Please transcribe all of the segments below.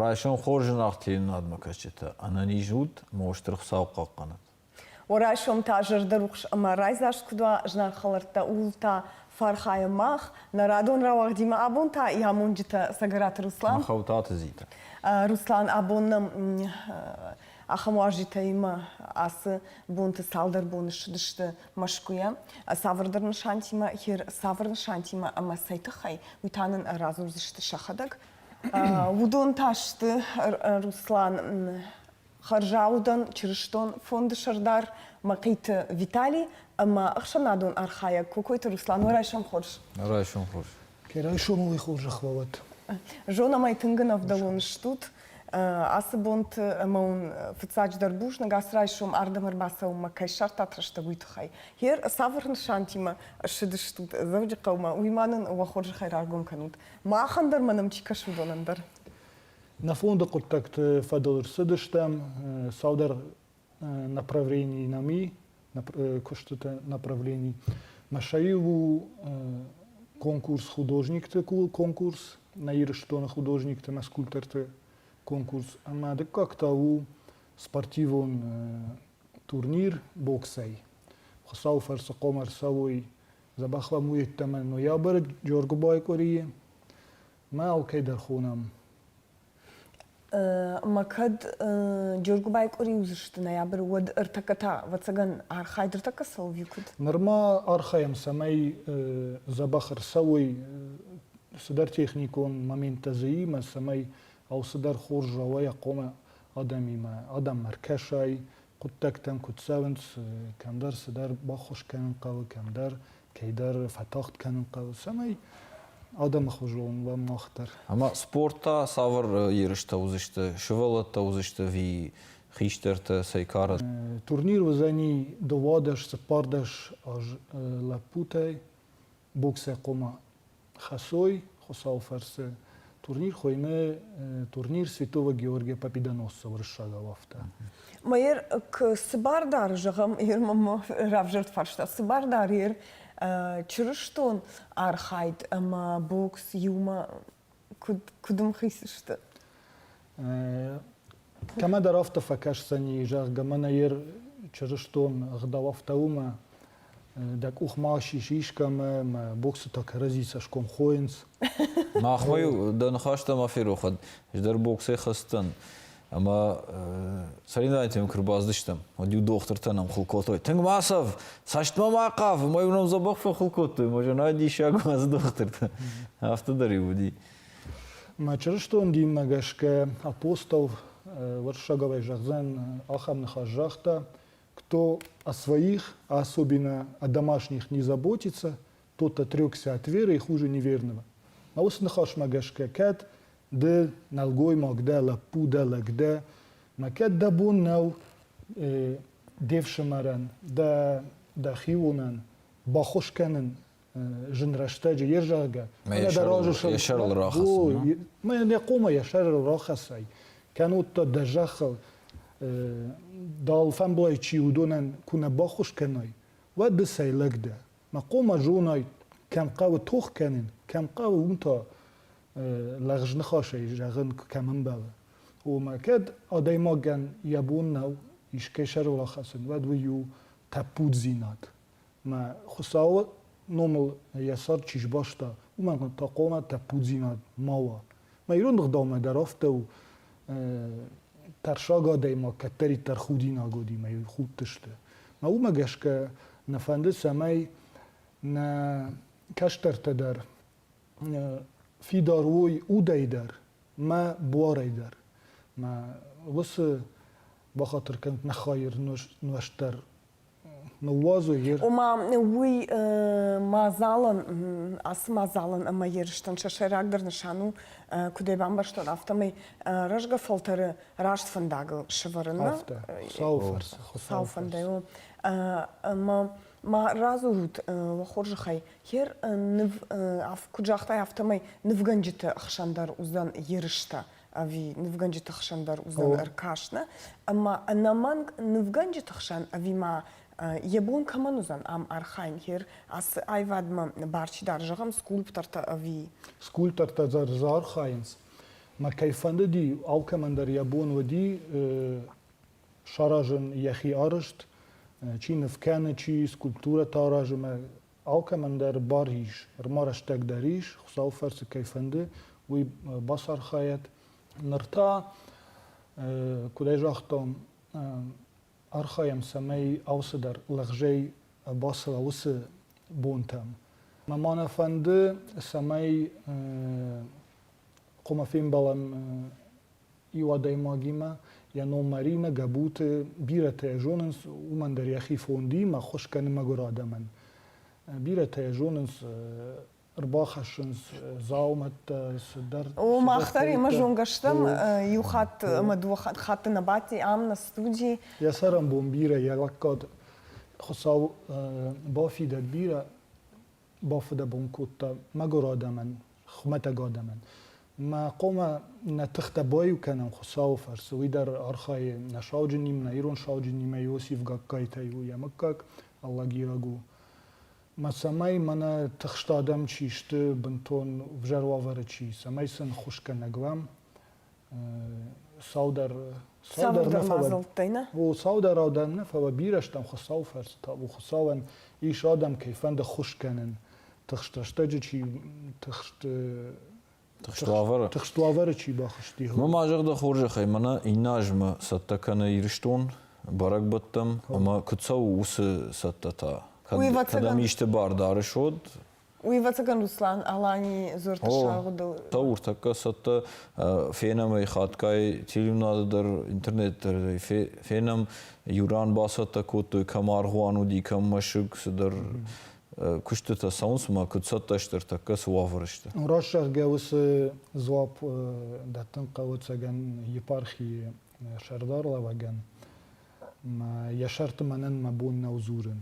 Райсом хорз зынаргъ телерадмӕкӕсджытӕ! Ӕнӕниз ут ӕмӕ стыр Хуыцау хъахъхъӕнӕт! Райсом та зӕрдӕрухс ӕмӕ райдзаст куыд уа знаг хӕлӕрттӕ, ууыл та фӕархайӕм мах, нӕ радон рауагъдимӕ абон та йӕ амонджытӕ Цӕгӕраты Руслан. Махау Таты Зитӕ. Руслан, абон нӕм Ахӕм уазджытӕимӕ ацы бонты цалдӕр боны ссыдысты Мӕскуыйӕ цавӕрдӕр нысантимӕ, хир цавӕр нысантимӕ ӕмӕ цӕй тыххӕй, уый та нын радзурдзысты сӕхӕдӕг. Уыдон та сты Руслан хӕрзаудӕн чырыстон фонды сӕрдар Мӕхъиты Виталий ӕмӕ ӕхсӕнадон архайӕг Кокойты Руслан. Нӕ райсом хорз! Нӕ райсом хорз! Ке райсомӕн уый хорзӕх уа уӕд. Зонӕмӕ тынг ын ӕвдӕлон стут. Ацы бонты ӕмӕ уын фыццаджыдӕр бузныг ацы райсом ардӕм ӕрбацӕуынмӕ кӕй ссардтат рӕстӕг, уый тыххӕй. Гъер цавӕр нысантимӕ ссыдыстут Дзӕуджыхъӕумӕ, уый ма нын уӕ хорзӕхӕй раргом кӕнут. Махӕн дӕр ма нӕм чи кӕсы, уыдонӕн дӕр. Нӕ фонды хъуыддӕгты фӕдыл ӕрцыдыстӕм цалдӕр направлений нами, куыстыты направлений. Машаи у конкурс художникты конкурс на Ирыстоны художникты на скульпторты конкурс. Ӕмӕ дыккаг та у спортивон турнир боксӕй. Хуыцау фӕрцы хъом ӕрцӕуой. Забахламуйедтӕмӕ ноябры Джоргуыбайы къуырийы. Мӕ алкӕй дӕр хонӕм. Мӕ кӕд Джергуыбайы къуыри уыдзысты ноябры, уӕд ӕртӕккӕ та, ӕвӕццӕгӕн, архайд ӕртӕккӕ цӕуы куыд? Нырма архайӕм, цӕмӕй дзӕбӕх ӕрцӕуой цыдӕр техникон моменттӕ зыимӕ, цӕмӕй алцыдӕр хорз уа уӕ хъомӕ адӕмимӕ, адӕм ӕркӕсай, хъуыддӕгтӕм куыд цӕуынц, кӕмдӕр цыдӕр баххуыс кӕнын хъӕуы, кӕмдӕр кӕйдӕр фӕтагъд кӕнын хъӕуы, цӕмӕй адӕмы хуызон уӕм нагъдӕр. Ӕмӕ спорт та цавӕр ерыстӕ уыдзысты, сывӕллӕттӕ уыдзысты ви хистӕртӕ, цӕй кары? Турнир уыдзӕни дыууадӕс-цыппардӕс аз лӕппутӕй, боксӕй хъума хӕсой Хуцауи фӕрцы турнир хуйны турнир Святого Георгия Победоносцева рӕссагау афтӕ. Мӕер цыбардар, зӕгъӕм, ер мӕ равзӕрд фарста, цыбардар ер Чырыстон архайд ӕмӕ бокс иумӕ куыд, куыд м хицысты? Кӕмӕдӕр афтӕ фӕкӕсдзӕни, зӕгъгӕ, мӕнӕ йе чырыстон ӕгъдауӕфтӕ уымӕ, дӕ къух ма сис искӕмӕ, мӕ боксытӕ кӕрӕдзи цӕсгом хойынц. Махмӕ-иу дӕ ныхӕстӕ ма ферохӕд, ӕз дӕр боксӕй хӕцдӕн. Ӕмӕ соревновательтӕм куы рбацыдыстӕм, уӕд иу дохтыртӕ нӕм хыл кодтой. Тынг ма сӕв, цӕстмӕ ма хъав, ӕмӕ уым нӕм дзӕбӕх фӕхыл кодтой, ӕмӕ зӕнӕй диссаг уадз дохтыртӕ. Афтӕ дӕр иу уыди. Мӕ чырыстон динмӕ гӕсгӕ апостол уырыссагӕй зӕгъдзӕн ахӕм ныхас загъта, кто о своих особенно о домашних не заботится, тот отрекся от веры и хуже неверного. А уыцы ныхасмӕ гӕсгӕ кӕд ды нӕлгоймаг дӕ, лӕппу дӕ, лӕг дӕ, мӕ кӕд дӕ бон нӕу де фсымӕрӕн, дӕ, дӕ хионӕн баххуыс кӕнын зын рӕстӕджы, йе зӕгъгӕ. Мӕ сӕрыл рахӕссын. Мӕ нӕ хъума йӕ сӕрыл рахӕссай. Кӕнод та дӕ зӕххыл дӕл фӕмблай чи уыдонӕн куы нӕ баххуыс кӕнай, уӕд ды цӕй лӕг дӕ? мӕ хъумӕ зонай кӕм хъӕуы тох кӕнын кӕм хъӕуы уым та лӕгъзныхасӕй зӕгъын кӕм ӕмбӕлы омӕ кӕд адӕймагӕн йӕ бон нӕу искӕй сӕрыл ахӕцын уӕд уый у тӕппуддзинад мӕ хуыцауы номыл йӕ сӕр чи сбаста уымӕн та хъуамӕ тӕппуддзинад ма уа Ма ирон ӕгъдаумӕ дӕр афтӕ у, тӕрсаг адӕймаг кӕддӕриддӕр худинагодимӕ худтысты. Мӕ уымӕ гӕсгӕ нӕ фӕнды, цӕмӕй нӕ кӕстӕртӕ дӕр фидар уой удӕй дӕр мӕ буарӕй дӕр. Мӕ уыцы бахатыр кӕнут нӕ хайы нуӕзт дӕр Ома уый мадзалӕн, ацы мадзалӕн ӕмӕ ерыстӕн сӕ сӕйрагдӕр нысан у, куыд ӕй бамбӕрстон, афтӕмӕй рӕзгӕ фӕлтӕры раст фӕндагыл сӕвӕрынмӕ. Сау фарс. Сау фӕндӕй у. Ӕмӕ ма радзурут уӕ хорзӕхӕй, хер ныв, куыд загътай, афтӕмӕй нывгӕнджыты хсӕн дӕр уыдзӕн ерыстӕ ӕви нывгӕнджыты хсӕн дӕр уыдзӕн ӕркаст нӕ, ӕмӕ ӕнӕмӕнг нывгӕнджыты хсӕн ӕви ма йӕ бон кӕмӕн уыдзӕн ам архайын, хер ацы аивадмӕ барчи дӕр зӕгъӕм скульптортӕ ӕви. Скульптортӕ дӕр дзы архайынц, мӕ кӕй фӕндыди алкӕмӕн дӕр йӕ бон уыди саразын йӕхи арӕзт, чи ныв кӕны, чи скульптурӕтӕ аразы мӕ Алкӕмӕн дӕр бар ис, ӕрма рӕстӕг дӕр ис, Хуыцауы фӕрцы кӕй фӕнды, уый бацархайӕт. Ныр та, куыд ӕй загътон, архайӕм, цӕмӕй алцыдӕр лӕгъзӕй бацӕуа уыцы бонтӕм. Ма нӕ фӕнды, цӕмӕй къуымы фембӕлӕм иу адӕймагимӕ йӕ ном Марина, Гӕбуты, бирӕтӕ йӕ зонынц, уымӕн дӕр йӕхи фондиимӕ ӕххуыс кӕны мӕгуыр адӕмӕн. Бирӕтӕ йӕ зонынц, ӕрбахӕссынц дзаумӕттӕ, цыдӕр. О, мах дӕр имӕ зонгӕ стӕм иу хатт ӕмӕ дыууӕ хатты нӕ бадти ам нӕ студи. Йӕ цӕрӕнбон бирӕ, йӕ лӕггад Хуыцау бафидӕд бирӕ. бафыдӕбон кодта мӕгуыр адӕмӕн, хуымӕтӕг адӕмӕн. Мӕ хъуамӕ нӕ тыхтӕ баиу кӕнӕм Хуыцауы фӕрцы, уый дӕр архайы нӕ сауджынимӕ, нӕ ирон сауджынимӕ Иосиф Гагкайтӕй у йӕ мыггаг, аллагийаг у. Мӕ цӕмӕй мӕнӕ тыхст адӕм чи сты, бынтон ӕвзӕр уавӕры чи, цӕмӕй сын хусгӕнӕг уӕм, саудӕр саудӕр мадзӕлттӕй нӕ о саудӕр аудӕн нӕ фӕлӕ бирӕ стӕм хуыцауы фӕрцы та у хуыцауӕн ис адӕм кӕй фӕнды ххуыс кӕнын тыхст рӕстӕджы чи тыхст тыхст уавӕры тыхст уавӕры чи бахызти мы ма зӕгъдӕ хорзӕхӕй мӕнӕ иннӕ азмӕ цӕттӕ кӕны ирыстон бӕрӕгбӕттӕм ӕмӕ куыд цӕуы уыцы цӕттӕ та кӕд кӕдӕм исты бар дарыс уӕд Уивӕцӕгӕн Руслан-Алани дзурдты сагъудыл. Тау уртакка цӕттӕ фенӕм ӕй хатгай телеунады дӕр, интернеты дӕр фенӕм, иуран бацӕттӕ кодтой, кӕм аргъуан уыди, кӕм мӕсыг, цыдӕр куыстытӕ цӕуынц, ӕмӕ куыд цӕттӕ сты ӕртӕккӕ цы уавӕры сты? Раст зӕгъгӕ уыцы дзуапп дӕттын хъӕуы Цӕгӕн епархийы сӕрдарлӕвӕгӕн. Мӕ йӕ сӕрты мӕнӕн мӕ бон нӕу дзурын.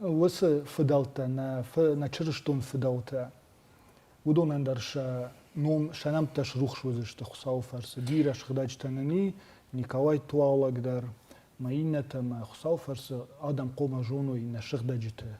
уыцы фыдӕлтӕ, нӕ чырыстон фыдӕлтӕ, уыдонӕн дӕр сӕ ном, сӕ нӕмттӕ срухс уыдзысты Хуыцауы фӕрцы. Бирӕ сыгъдӕджытӕ нын и, Николай Туаллаг дӕр, мӕ иннӕтӕ мӕ Хуыцауы фӕрцы адӕм хъуамӕ зоной нӕ сыгъдӕджыты.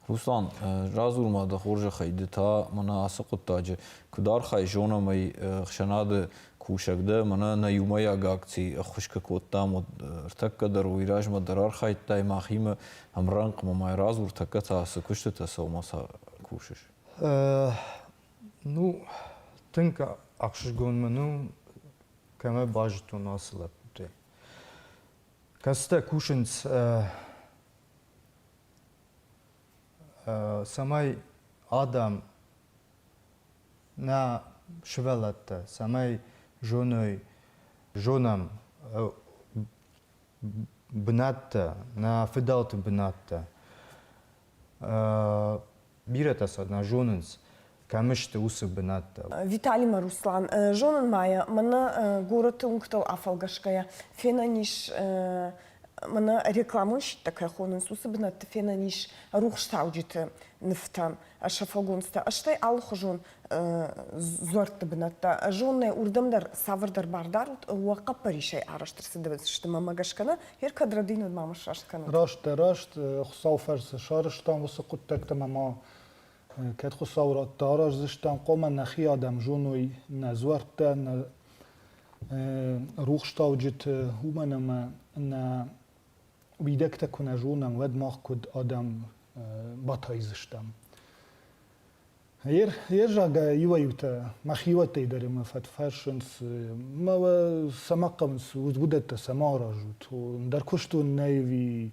Руслан, радзур-ма дӕ хорзӕхӕй, ды та мӕнӕ ацы хъуыддаджы куыд архай, зонӕм ӕй ӕхсӕнады Кусӕг дӕ, мӕнӕ нӕ иумӕйаг акци ӕххуысгӕ кодтам, уӕд ӕртӕккӕ дӕр уый размӕ дӕр архайдтай мӕхимӕ ӕмрӕнхъмӕ мӕ радзур, тӕккӕ та цы куыстытӕ сӕумӕ ца кусыс? Ну, тынг ӕхсызгон мын у, кӕмӕ базыдтон ацы лӕппутӕй. Кӕцытӕ кусынц, цӕмӕй адӕм Нӕ сывӕллӕттӕ цӕмӕй зоной, зонӕм бынаттӕ, нӕ фыдӕлты бынаттӕ. Бирӕтӕ сӕ нӕ зонынц, кӕм сты уыцы бынаттӕ. Виталимӕ Руслан. Зонын ма йӕ, мӕнӕ горӕты уынгтыл афӕлгӕсгӕйӕ, фенӕн ис мӕнӕ рекламонщиттӕ кӕй хонынц, уыцы бынӕтты фенӕн ис рухстауджыты нывтӕ, сафогонцтӕ, стӕй алыхуызон дзуӕртты бынӕттӕ. Зонынӕ уырдӕм дӕр цавӕрдӕр бар дарут, уӕ хъӕппӕрисӕй арӕзт ӕрцыдысты мӕ гӕсгӕ нӕ Пьер Кадрадинод ма мӕ сраст кӕнӕд. Раст дӕ, раст, Хуыцауы фӕрцы сарӕзтам уыцы хъуыддӕгтӕ мӕ ма Кӕд Хуыцауы радты араздзыстӕм, хъуамӕ нӕхи адӕм зоной нӕ дзуӕрттӕ, нӕ рухстауджыты, уымӕн ӕмӕ нӕ уидӕгтӕ куы нӕ зонӕм, уӕд мах куыд адӕм батайдзыстӕм. Ерзагӕ иуӕй-иутӕ мӕхиуӕттӕй дӕр мӕ фӕтфӕрсынц, мӕ сӕ ма хъӕуынц, уыдӕттӕ сӕ ма аразут. Ӕндӕр куыстон нӕй ӕви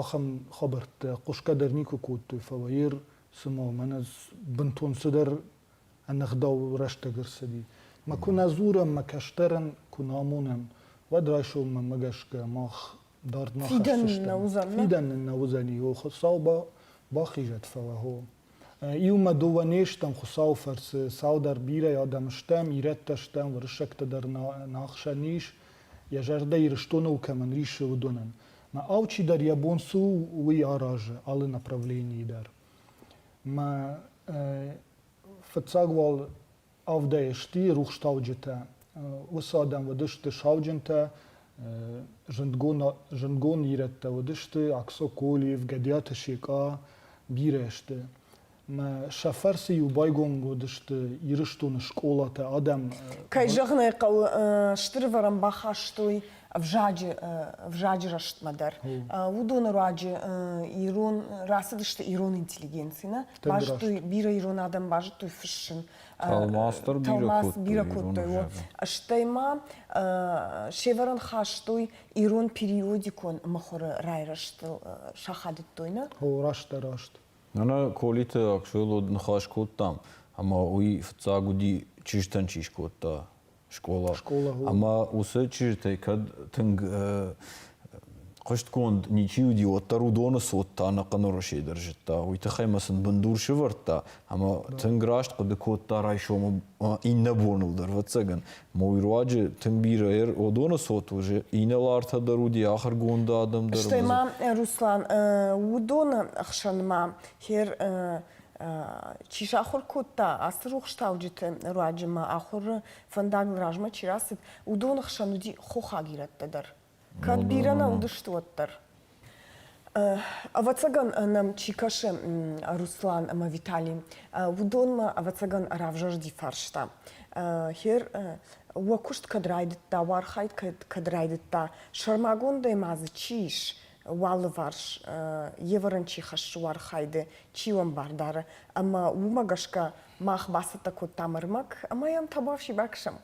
ахӕм хабӕрттӕ хъуысгӕ дӕр никуы кодтой, фӕлӕ Ир, цыма мӕнӕ бынтон цыдӕр ӕнӕгъдау рӕстӕг ӕрцыди. Мӕ куы нӕ дзурӕм, мӕ кӕстӕрӕн куы нӕ амонӕм, уӕд райсом мӕмӕ гӕсгӕ мах дард ма хӕссдзыстӕм. Фидӕн нын нӕ уыдзӕн, фидӕн нын нӕ уыдзӕн, йо, Хуыцау бахизӕд, фӕлӕ хо. Иумӕ дыууӕ не стӕм Хуыцауы фӕрцы, цалдӕр бирӕ адӕм стӕм, ирӕттӕ стӕм, уырыссӕгтӕ дӕр нӕ ӕхсӕн ис, йӕ зӕрдӕ Ирыстоныл кӕмӕн рисы, уыдонӕн. Мӕ алчидӕр йӕ бон цы у, уый аразы алы направленийы дӕр. Мӕ фыццаг уал авдӕй сти рухстауджытӕ. Уыцы адӕм уыдысты сауджынтӕ, зындгон, зындгон ирӕттӕ уыдысты, Аксоколиев, Гӕдиаты Секъа, бирӕ сты. Сӕ фӕрцы-иу байгом уыдысты Ирыстоны скъолатӕ адӕм. Кӕй зӕгъын ӕй хъӕуы, стыр ӕвӕрӕн бахастой ӕвзаджы ӕвзаджы рӕзтмӕ дӕр. Уыдоны руаджы ирон рацыдысты ирон интеллигенцимӕ, базыдтой бирӕ ирон адӕм базыдтой фыссын. Тӕлмац дӕр бирӕ кодтой. Бирӕ кодтой. Стӕй ма се вӕрӕн хастой ирон периодикон мыхуыры райрӕзтыл сахадыдтой нӕ. О, растдӕр раст. Нана Колиты Аксойыл ныхас кодтам, ӕмӕ уый фыццаг уыди чызджытӕн чи скодта, скъола. скъола ӕмӕ уыцы чызджытӕй кӕд тынг хъуыстгонд ничи уыди, уӕддӕр уыдоны цот та ӕнӕхъӕн Уӕрӕсе дӕр зыдта. Уый тыххӕй мӕ сын бындур сывӕрдта ӕмӕ тынг раст хъуыды кодта райсомы иннӕ боныл дӕр. Ӕвӕццӕгӕн, ма уый руаджы тынг бирӕ уыдоны цот уызы, инӕлартӕ дӕр уыди, ахуыргонд адӕм дӕр. Стӕй ма, Руслан, уыдоны ӕхсӕн ма хер чи сахуыр кодта ацы рухстауджыты руаджы ӕмӕ ахуыры фӕндагыл размӕ чи рацыд, уыдоны хсӕн уыди хохаг ирӕттӕ дӕр. Кӕд бирӕ нӕ уыдысты, уӕддӕр. Ӕвӕццӕгӕн нӕм чи кӕсы Руслан ӕмӕ Витали, уыдонмӕ ӕвӕццӕгӕн равзӕрди фарста. Хер, уӕ куыст кӕд райдыдта, уӕ архайд кӕд райдыдта, сӕрмагондӕй ма дзы чи ис, уӕ алыварс евӕрӕн чи хӕссы уархайды, чи уӕмбар дары. Ӕмӕ уымӕ гӕсгӕ мах бацӕттӕ кодтам ӕрмӕг ӕмӕ йӕм табуафси бакӕсӕм.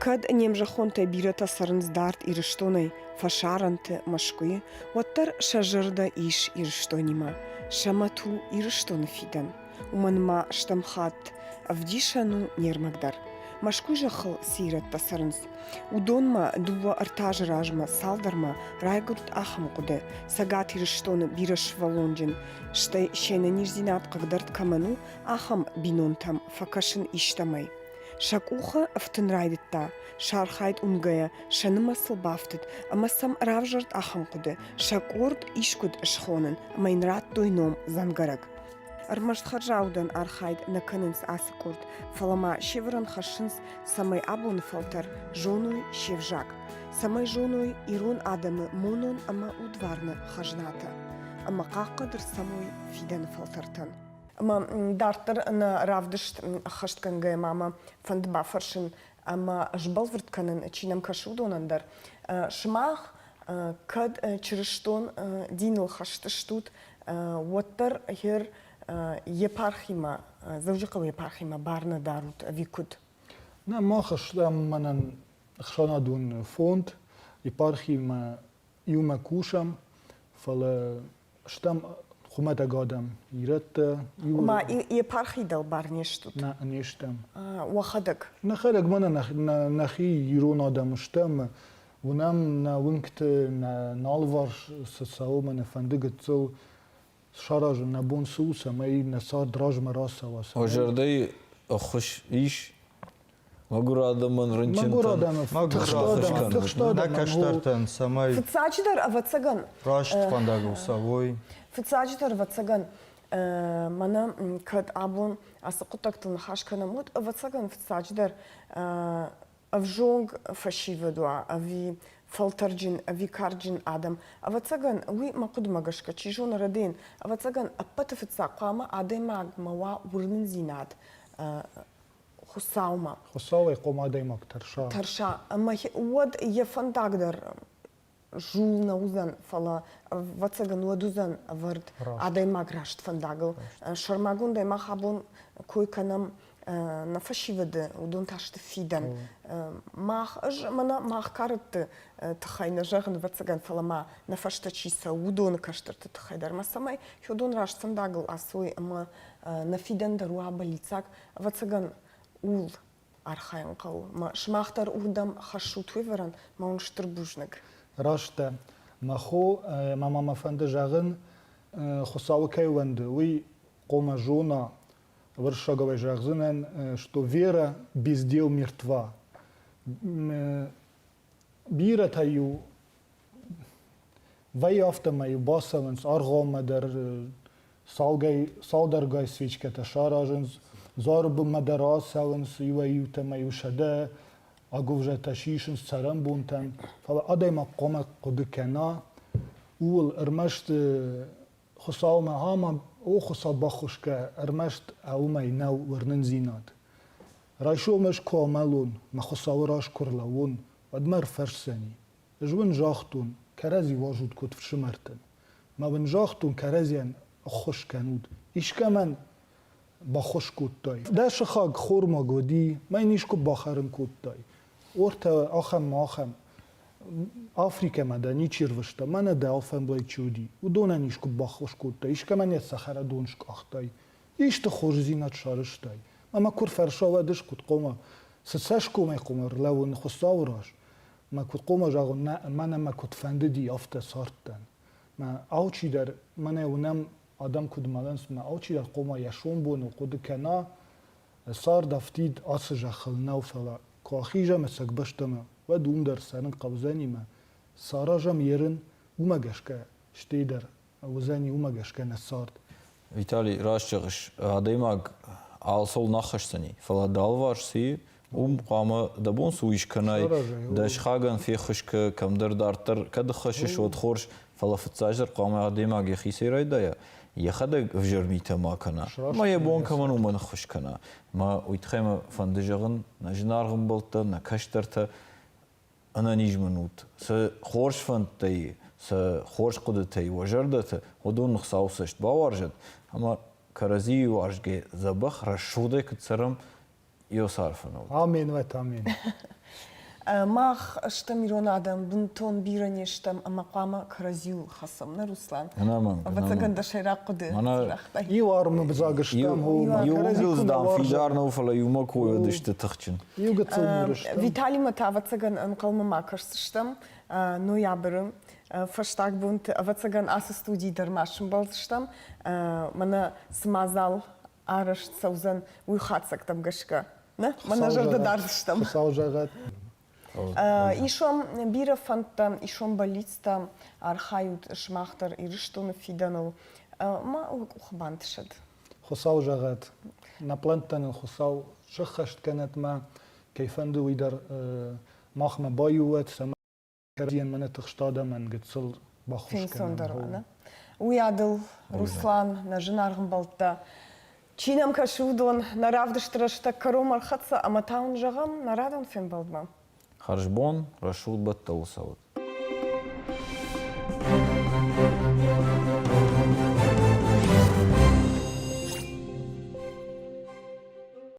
Кӕд не мзӕххонтӕй бирӕтӕ цӕрынц дард Ирыстонӕй, фӕсарӕнты, Мӕскуыйы, уӕддӕр сӕ зӕрдӕ ис Ирыстонимӕ. Сӕ мӕт у Ирыстоны фидӕн. уымӕн ма стӕм хатт ӕвдисӕн у не рмӕгдӕр. Мӕскуй зӕххыл цы ирӕттӕ цӕрынц, уыдонмӕ дыууӕ-ӕртӕ азы размӕ цалдӕрмӕ райгуырд ахӕм хъуыды, Цӕгат Ирыстоны бирӕсывӕллонджын, стӕй се нӕниздзинад хъыгдӕрд кӕмӕн у, ахӕм бинонтӕм фӕкӕсын истӕмӕй. Сӕ къухы ӕфтын райдыдта, сӕ архайд уынгӕйӕ сӕ нымӕцыл бафтыд ӕмӕ сӕм равзӕрд ахӕм хъуыды: сӕ къорд искуыд схонын ӕмӕ йын радтой ном «дзӕнгӕрӕг». Ӕрмӕст хӕрзаудӕн архайд нӕ кӕнынц ацы къорд, фӕлӕ ма северӕн хӕссынц, цӕмӕй абоны фӕлтӕр зоной се взаг, цӕмӕй зоной ирон адӕмы монон ӕмӕ удварны хӕзнатӕ ӕмӕ хъахъхъӕдыр цӕмой фидӕны фӕлтӕртӕн. Ӕмӕ дарддӕр нӕ равдыст ӕххӕстгӕнгӕйӕ ма мӕ фӕнды бафӕрсын ӕмӕ сбӕлвырд кӕнын, чи нӕм кӕсы, уыдонӕн дӕр. Сымах кӕд чырыстон диныл хӕст стут, уӕддӕр гъер епархимӕ, Дзӕуджыхъӕуы епархимӕ бар нӕ дарут ӕви куыд? Нӕ мах стӕм мӕнӕн ӕхсӕнадон фонд, епархимӕ иумӕ кусӕм, фӕлӕ стӕм хуымӕтӕг адӕм, ирӕттӕ. Ма епархи дӕлбар не стут? Нӕ, не стӕм. Уӕхӕдӕг? Нӕхӕдӕг ма нӕхи ирон адӕм стӕм. Уынӕм нӕ уынгты нӕ алыварс цы цӕуы, мӕ нӕ фӕнды гыццыл саразын нӕ бон цы у, цӕмӕй нӕ цард размӕ рацӕуа. О зӕрдӕйы ӕххуыс ис Мӕгуыр адӕмӕн рынчынтӕн мӕгуыр адӕмӕн тыхст адӕмӕн тыхст адӕмӕн нӕ кӕстӕртӕн, цӕмӕй фыццаджыдӕр ӕвӕццӕгӕн раст фӕндагыл цӕуой. Фыццаджыдӕр ӕвӕццӕгӕн мӕнӕ кӕд абон ацы хъуыддӕгтыл ныхас кӕнӕм, уӕд ӕвӕццӕгӕн фыццаджыдӕр ӕвзонг фӕсивӕд уа ӕви фӕлтӕрджын ӕви карджын адӕм. Ӕвӕццӕгӕн уый мӕ хъуыдымӕ гӕсгӕ чи зоны Радейӕн, ӕвӕццӕгӕн ӕппӕты фыццаг хъуамӕ адӕймагмӕ уа уырнындзинад Хуыцаумӕ. Хуыцауӕй хъом адӕймаг тӕрса. Тӕрса, ӕмӕ уӕд йӕ фӕндаг дӕр зул нӕ уыдзӕн, фӕлӕ, ӕвӕццӕгӕн, уӕд уыдзӕн ӕвӕрд раст. адӕймаг раст фӕндагыл. Раст. Сӕрмагондӕй мах абон кой кӕнӕм нӕ фӕсивӕды, уыдон та сты фидӕн. Мах, ӕз мӕнӕ мах кӕрӕтты тыххӕй нӕ зӕгъын, ӕвӕццӕгӕн, фӕлӕ ма нӕ фӕстӕ чи цӕуы, уыдоны кӕстӕрты тыххӕй дӕр, ма цӕмӕй федон раст фӕндагыл ацой ӕмӕ нӕ фидӕн дӕр уа бӕллиццаг, Ӕвӕццӕгӕн, ууыл архайын хъӕуы. Сымах дӕр уырдӕм хӕссут уавӕрӕн, мӕ уын стыр бузныг. Раст дӕ, мӕ хо, ӕмӕ ма мӕ фӕнды зӕгъын, Хуыцауы кӕй уӕнды, уый хъомӕ зона, уырыссагау зӕгъдзынӕн, что вера без дел мертва. бирӕтӕ-иу вӕййы афтӕмӕй бацӕуынц ӕргъоммӕ дӕр цалгай цалдӕргай свечкӕтӕ саразынц зары бынмӕ дӕр ацӕуынц иуӕй-иутӕмӕ-иу сӕдӕ агуывзӕтӕ сисынц цӕрӕнбонтӕн фӕлӕ адӕймаг хъуамӕ хъуыды кӕна ууыл ӕрмӕст Хуыцаумӕ амам, о Хуыцау баххуысгӕ, ӕрмӕст уымӕй нӕу уырнындзинад. Райсом ӕз куы амӕлон, мӕ Хуыцауы раз куы рлӕууон, уӕд мӕ ӕрфӕрсдзӕни. Ӕз уын загътон, кӕрӕдзи уазут куыд фсымӕртӕн. Ма уын загътон, кӕрӕдзийӕн ӕххуыс кӕнут. Искӕмӕн баххуыс кодтай? Дӕ сыхаг хормаг уыди, мӕ йын искуы бахӕрын кодтай? Ортӕ ахӕммӕ ахӕм Африкӕмӕ дӕ ничи рвыста, мӕнӕ дӕ алфӕмблай чи уыди, уыдонӕн искуы баххуыс кодтай, искӕмӕн йӕ цӕхӕрадон скъахтай, исты хорздзинад сарызтай. Ӕмӕ куы рфӕрсӕвӕд ис, куыд хъуамӕ, цы цӕсгомӕй-хъуамӕ рлӕууын Хуыцауы раз, мӕ куыд хъуамӕ зӕгъон, мӕнӕ мӕ куыд фӕндыди, афтӕ цардтӕн. Мӕ алчидӕр, мӕнӕ уынӕм, адӕм куыд мӕлынц, мӕ алчидӕр хъуамӕ йӕ сомбоныл хъуыды кӕна, цард афтид ацы зӕххыл нӕу, фӕлӕ куы ахизӕм ӕцӕг бӕстӕмӕ, уӕд уым дӕр цӕрын хъӕудзӕнимӕ, цы аразӕм йе рын, уымӕ гӕсгӕ, стӕй дӕр уыдзӕни уымӕ гӕсгӕ нӕ цард. Виталий, раст зӕгъыс, адӕймаг алцыуыл нӕ аххӕсдзӕни, фӕлӕ дӕ алыварс цы и, уым хъуамӕ дӕ бон цы у ис кӕнай, дӕ сыхагӕн феххуыс кӕ, кӕмдӕр дарддӕр кӕд ӕххӕссыс, уӕд хорз, Фӕлӕ фыццаздӕр хъуамӕ адӕймаг йӕхицӕй райдайа, йӕхӕдӕг ӕвзӕр митӕ ма кӕна, ӕмӕ йӕ бон кӕмӕн у ма ныххуыс кӕна. Мӕ уый тыххӕй мӕ фӕнды зӕгъын, нӕ зынаргъ ӕмбӕлттӕ, нӕ кӕстӕртӕ, ӕнӕниз мын ут, сӕ хорз фӕндтӕй, сӕ хорз хъуыдытӕй уӕ зӕрдӕты уыдон Хуыцауы цӕст бауарзӕт, ӕмӕ кӕрӕдзийы уарзгӕ дзӕбӕх рӕсугъдӕй куыд цӕрӕм, Иосарфыныл. Амен, уӕт амен. Мах стӕм ирон адӕм, бынтон бирӕ не стӕм ӕмӕ хъуамӕ кӕрӕдзиуыл хӕцӕм, нӕ Руслан? Ӕнӕмӕнг. Ӕвӕццӕгӕн дӕ сӕйраг хъуыды цырӕгътӕй. Иу армы взаг стӕм, иууыл, дам, фидар нӕу, фӕлӕ иумӕ кой сты тыхджын. Иу гыццыл ныр стӕм. Виталимӕ та, ӕвӕццӕгӕн, ӕнхъӕлмӕ ма кӕсдзыстӕм ноябры фӕстаг бонты. Ӕвӕццӕгӕн ацы студийы дӕр ма сӕмбӕлдзыстӕм, мӕнӕ цы мадзал арӕзт цӕудзӕн уый хатдзӕгтӕм гӕсгӕ. Нӕ? Мӕнӕ зӕрдӕ дард стӕм. Хуыцау зӕгъӕд. Ис ам бирӕ фӕндтӕ, ис ам бӕллицтӕ, архайут сымах дӕр Ирыстоны фидӕныл. Ма уӕ къухы бантысӕд. Хуыцау зӕгъӕд. Нӕ плӕнттӕ нын Хуыцау сӕххӕст кӕнӕд ма кӕй фӕнды уый дӕр махмӕ баиу уӕд, цӕмӕй Кӕрдӕнмӕ тыхст адӕмӕн гыццыл баххуыс кӕнӕн. Уыйадыл Руслан, нӕ зынаргъ ӕмбӕлттӕ, чи нӕм кӕсы, уыдон нӕ равдысты рӕстӕг кӕрон ӕрхӕццӕ ӕмӕ та уын зӕгъӕм нӕ радон фембӕлдмӕ. Хӕрзбон, рӕсугъд бӕттӕуы цӕуӕт!